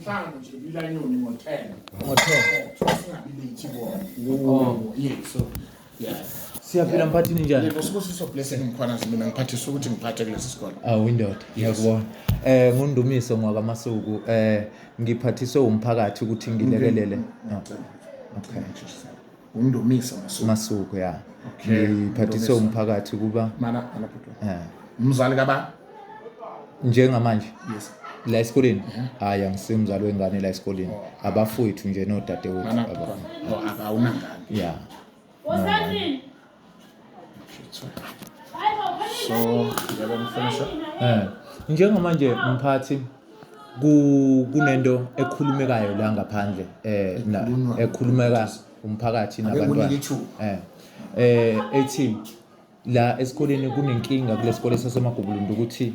Mhlawumbe nje bilanyoni ngothela. Ngothela. Singabi late bona. Oh, yeah, so yeah. siyaphila mphathini njani Yebo sibusiso blessing mkhwanazi mina ngiphathisa ukuthi ngiphathe kulesi sikole. awu indoda ngiyakubona um ngundumiso ngwakamasuku um ngiphathiswe wumphakathi ukuthi ngilekelele Ah, okay undomisa masuku masuku ya okay. ngiphathise umphakathi kuba mana mana bhuti yeah. umzali kaba njengamanje yes la esikoleni hayi yeah. angisimzali wengane la esikoleni oh. abafowethu nje nodadewethu abafowethu oh, awunangane yeah no, no. so yabamfundisa eh njengamanje mphathi kunento ekhulumekayo la ngaphandle eh ekhulumeka umphakathi nabantwana eh eh ethi la esikoleni kunenkinga kulesikole sasemagubulundu ukuthi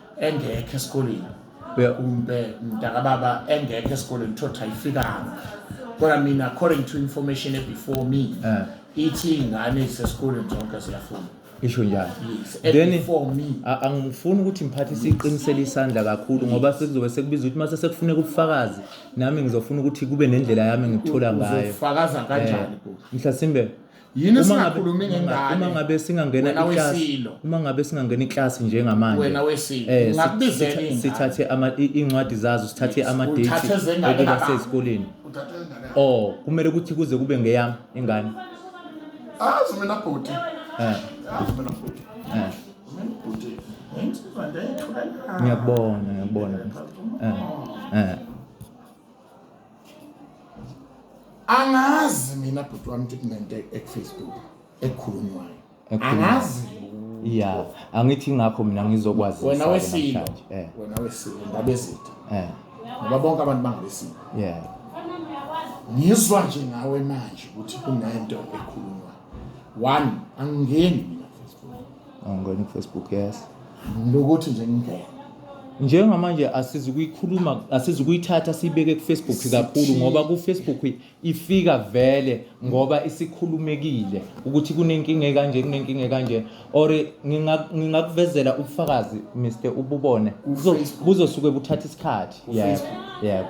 engekho esikoleni kumbe mntakababa engekho esikoleni thothi ayifikanga kodwa mina according to information ebefore me eh. ithi iy'ngane ezisesikoleni zonke ziyafunda isho njalo then angifuni ukuthi ngiphathe siqinisele isandla kakhulu ngoba sekuzobe sekubiza ukuthi mase sekufuneka ubufakazi nami ngizofuna ukuthi kube nendlela yami ngikuthola ngayo uzofakaza kanjani eh, mhlasimbe Yini singakhulumi ngengane? Uma ngabe singangena iClass, uma ngabe singangena iClass njengamanje. Wena wesilo. Eh, Ngakubizela ingane. Sithathe ama incwadi zazo, sithathe ama date okuba sezikoleni. Oh, kumele ukuthi kuze kube ngeyami ingane. Azi mina bhuti. Eh. Azi mina bhuti. Eh. Mina bhuti. Ngiyakubona, ngiyakubona. Eh. Eh. angazi mina bhuti wami ukuthi kunento ekufacebook ekhulunywayo angazi ya angithi ngakho mina ngizokwazi wena wesilo eh. wena wesilo ngabezitha eh. ngoba bonke abantu bangabesilo yeah ngizwa nje ngawe manje ukuthi kunento ekhulunywa one angingeni angangena kufacebook yes lokuthi nje ngingena njengamanje asizukuyikhuluma asizukuyithatha siyibeke kufacebook kakhulu ngoba kufacebook ifika vele ngoba isikhulumekile ukuthi kunenkinga ekanje kunenkinga ekanje or nginga- ngingakuvezela ubufakazi mr ububone Kuzo- Facebook. buzosuke buthatha isikhathi yebo Facebook. yebo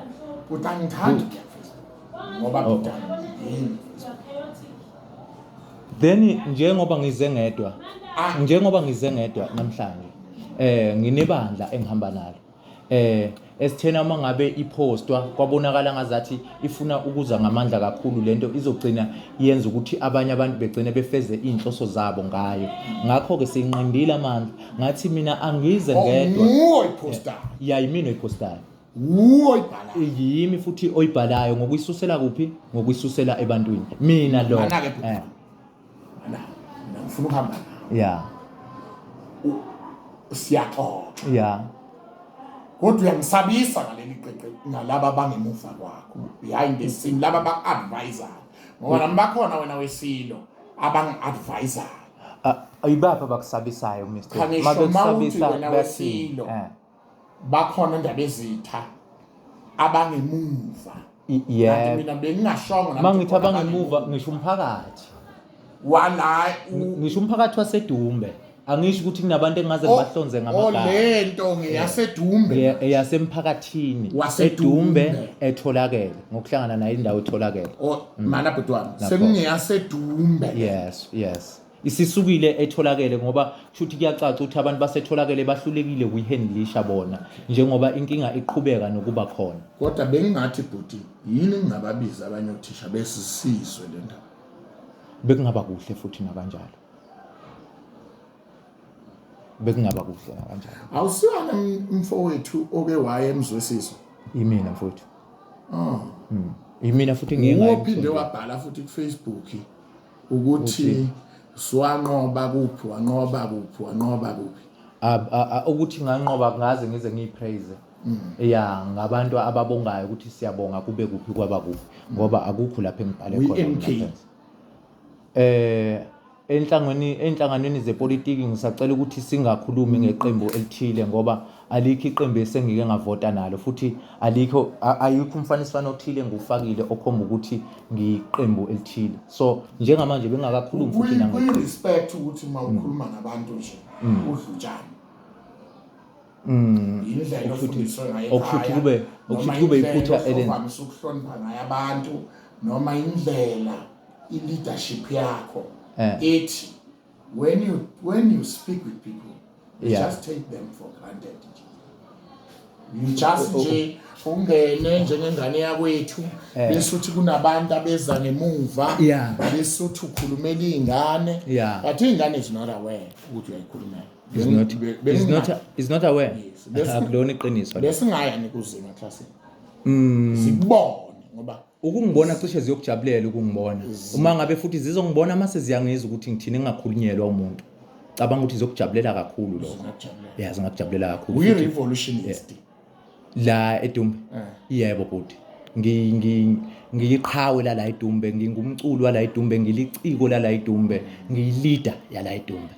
kodwa angithandi ukuya kufacebook ngoba Oh. bidani yini then njengoba ngize ngedwa ah. njengoba ngize ngedwa namhlanje eh nginebandla engihamba nalo eh esithena uma ngabe iphostwa kwabonakala ngazathi ifuna ukuza ngamandla kakhulu lento izogcina yenza ukuthi abanye abantu begcine befeze izinhloso zabo ngayo ngakho ke sinqindile amandla ngathi mina angize oh, ngedwa nguwe ipostayo yayimina ipostayo wuwe oyibhalayo yimi futhi oyibhalayo ngokuyisusela kuphi ngokuyisusela ebantwini mina lo anake bhuti eh. ana ngifuna ukuhamba ya siyaxoxa ya kodwa uyangisabisa ngaleli qeqe nalaba bangemuva kwakho behind the scene laba ba-advisor ngoba nami bakhona wena wesilo abangi-advisor ayibaphi abakusabisayo mr mabekusabisa wena wesilo eh. bakhona ndabezitha abangemuva yeah mina bengingashongo nami mangithi abangemuva ngisho umphakathi wala ngisho umphakathi wasedumbe angisho ukuthi kunabantu engaze ngibahlonze ngamagama olento ngeyasedumbe eyasemphakathini wasedumbe etholakele ngokuhlangana nayo indawo etholakele oh, mm. mana bhutwana sekungeyasedumbe yes yes isisukile etholakele ngoba kushuthi kuyacaca ukuthi abantu basetholakele bahlulekile kuyihandlisha bona njengoba inkinga iqhubeka nokuba khona kodwa bengingathi bhuti yini ngingababiza abanye othisha besisizwe le ndaba bekungaba kuhle futhi nakanjalo bekungaba kuhle nakanjalo awusiwana mfowethu oke waye emzwesiso imina mfowethu oh ah. hmm. imina futhi ngingayi uphinde wabhala futhi ku Facebook Ukuthi swanqoba kuphi wanqoba kuphi wanqoba kuphi. Ukuthi nganqoba kungaze ngize ngiyipraise. Mm. ya ngabantu ababongayo ukuthi siyabonga kube kuphi kwaba kuphi ngoba akukho lapho engibhale khona eh enhlangweni enhlanganweni zepolitiki ngisacela ukuthi singakhulumi ngeqembu elithile ngoba Alikho iqembu esengike ngavota nalo futhi alikho ayikho umfaniswano othile engiwufakile okhomba ukuthi ngiyiqembu elithile. So njengamanje bengakakhulumi futhi nangikho. Kuyi respect ukuthi uma mm. ukhuluma nabantu nje mm. udlutshana. Mm. Indlela ofundiswe ngayo ekhaya. Okuthi kube okuthi kube iphutha elenza. Noma ukuhlonipha ngayo abantu noma indlela i leadership yakho eh. ethi When you when you speak with people, you yeah. just take them for granted. You just nje ungene njengengane yakwethu eh. bese uthi kunabantu abeza ngemuva bese uthi ukhulumela iy'ngane but iy'ngane is not aware ukuthi uyayikhulumela akulona iqiniso besingaya nikuzima eklasini mm. zikubone ngoba ukungibona cishe ziyokujabulela ukungibona uma ngabe futhi zizongibona mase ziyangizwa ukuthi ngithini ngingakhulunyelwa umuntu cabanga ukuthi zizokujabulela kakhulu lokho yeah zingakujabulela kakhulu uyi revolutionist la edumbe eh. yebo bhuti ngiyiqhawe lala idumbe ngingumculo wala idumbe ngiliciko lala idumbe ngiyilida yala idumbe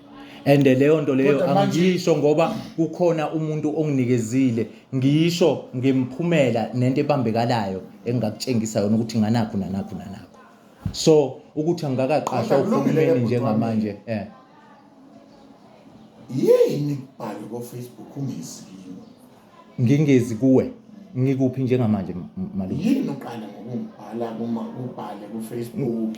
and leyo nto leyo angiyisho ngoba kukhona umuntu onginikezile Ngisho ngemiphumela nento ebambekalayo engakutshengisa yona ukuthi nganakho nanakho nanakho. So ukuthi angikakaqashwa uhulumeni njengamanje eh. Yini kubhale ko Facebook ungizikini? Ngingezi kuwe. Ngikuphi njengamanje malume? Yini uqala ngokungibhala kuma ubhale ku Facebook?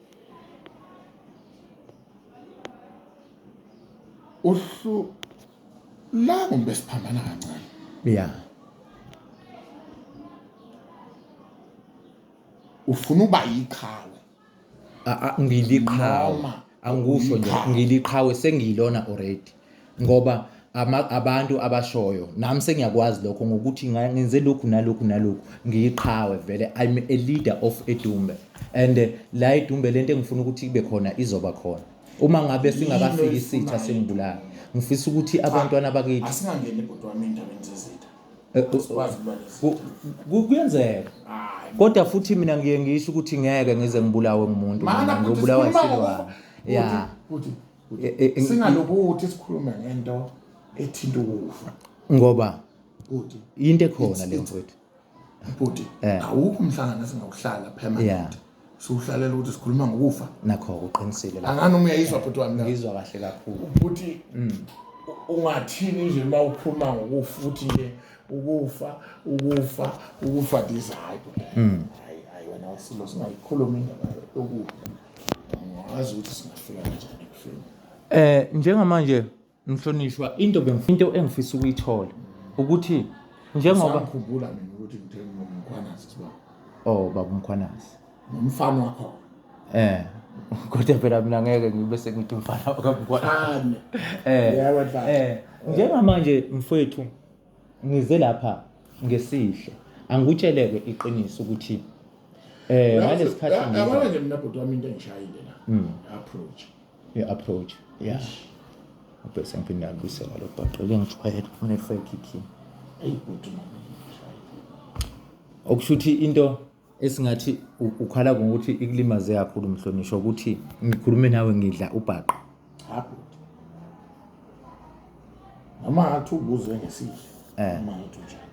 uhlu la kumbe siphambana kancane ya ufuna uba yiqhawe ngiliqhawe angikusho nje ngiliqhawe sengiyilona already ngoba abantu abashoyo nami sengiyakwazi lokho ngokuthi ngenze lokhu nalokhu nalokhu ngiyiqhawe vele I'm a leader of edumbe and eh, la edumbe lento engifuna ukuthi kube khona izoba khona uma ngabe singakafiki isitha sengibulala ngifisa ukuthi abantwana bakithi asingangeni bhuti wami endabeni zezitha eh, eh, kuyenzeka kodwa futhi mina ngiye ngisho ukuthi ngeke ngize ngibulawe ngumuntu ngizobulawa isilwane ya e, e, e, singalokuthi sikhulume ngento ethinta ukufa ngoba bhuti into ekhona le mfowethu bhuti eh. awukho umhlangano esingawuhlala permanent siwuhlalela ukuthi sikhuluma ngokufa nakho uqinisile la angani umuyayizwa bhuti wami ngizwa kahle kakhulu bhuti mm. ungathini nje uma ukhuluma ngokufa ukuthi nje ukufa ukufa ukufa ndizayo mm. hayi hayi wena usilo singayikhuluma indaba yokufa angazi ukuthi singafika kanjani ekufeni eh njengamanje mhlonishwa into bengifuna into engifisa ukuyithola ukuthi njengoba ngikhumbula mina ukuthi ngithe ngomkhwanazi siba oh baba umkhwanazi umfana wakho eh kodwa phela mina ngeke ngibe sengithi umfana wakamkhwanazi eh yebo eh njengamanje mfowethu ngize lapha ngesihle angikutsheleke iqiniso ukuthi eh ngalesikhathi ngiza yabona nje mina bhuti wami into engishayile la mm. approach i approach yeah ubese ngiphinda ngibuse ngalo bhaqa ke ngijwayele ufune fake key ayi bhuti mama okusho ukuthi into esingathi ukhala ngokuthi ikulimaze kakhulu mhlonishwa ukuthi ngikhulume nawe ngidla ubhaqa noma ngathi ubuzwe ngesihle eh. noma ngathi unjani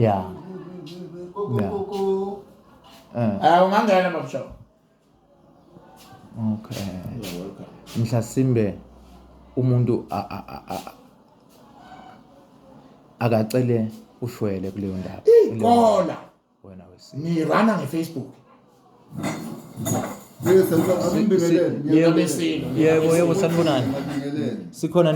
ya ya eh. ah, ungangena mabushawo okay mhlasimbe umuntu akacele ushwele kuleyo ndawo iqola wena wesi ni rana nge Facebook yebo yebo sanibonani sikhona